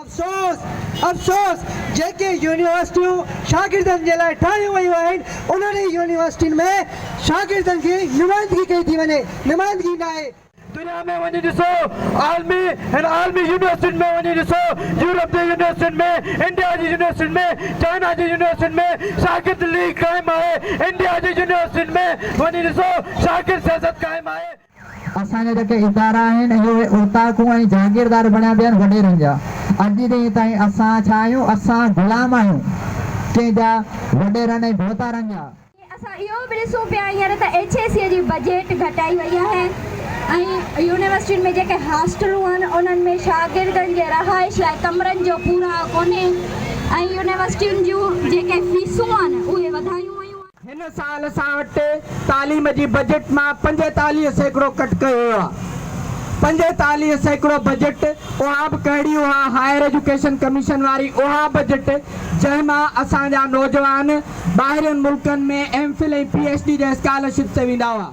افسوس افسوس جيڪي يونيورسٽيون شاگردن جي لاء ٺاهيون ويون آهن انهن ئي يونيورسٽين ۾ شاگردن جي نمائندگي ڪئي ٿي وڃي نمائندگي ناهي. دنيا ۾ وڃي ڏسو عالمي هن عالمي يونيورسٽين ۾ وڃي ڏسو يورپ جي يونيورسٽين ۾ انڊيا جي يونيورسٽين ۾ چائنا جي يونيورسٽين ۾ شاگرد ليگ قائم آهي انڊيا جي يونيورسٽين ۾ وڃي ڏسو شاگرد سياست قائم آهي. اسان جا جيڪي ادارا آهن اهي اهي اوطاقون ۽ جاگيردار بڻيا پيا آهن وڏيرن جا اڄ جي ڏينهن تائين اسان ڇا آهيون اسان غلام آهيون ڪنهن جا وڏيرن ۽ ڀوتارن جا. اسان اهو به ڏسون پيا هينئر ته ايڇ اي سي جي بجيٽ گهٽائي وئي آهي ۽ يونيورسٽين ۾ جيڪي هاسٽلون آهن انهن ۾ شاگردن جي رهائش لاء ڪمرن جو پورائو ڪونهي ۽ يونيورسٽين جون جيڪي فيسون آهن اهي وڌايون ويون آهن. هن سال اسان وٽ تعليم جي بجيٽ مان پنجيتاليهه سيڪڙو ڪٽ ڪيو ويو آهي. پنجيتاليهه سيڪڙو بجيٽ اها به ڪهڙي اها هائير ايجوڪيشن ڪميشن واري اها بجيٽ جنهن مان اسان جا نوجوان ٻاهرين ملڪن ۾ M Phil ۽ P H D جي اسڪالرشپ تي ويندا هئا.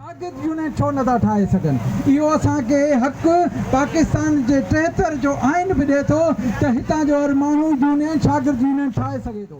ساگرد يونين ڇو نه ٿا ٺاهي سگهن؟ اهو اسان کي حق پاڪستان جي ٽيهتر جو آئين به ڏئي ٿو ته هتان جو هر ماڻهو يونين ساگرد يونين ٺاهي سگهي ٿو.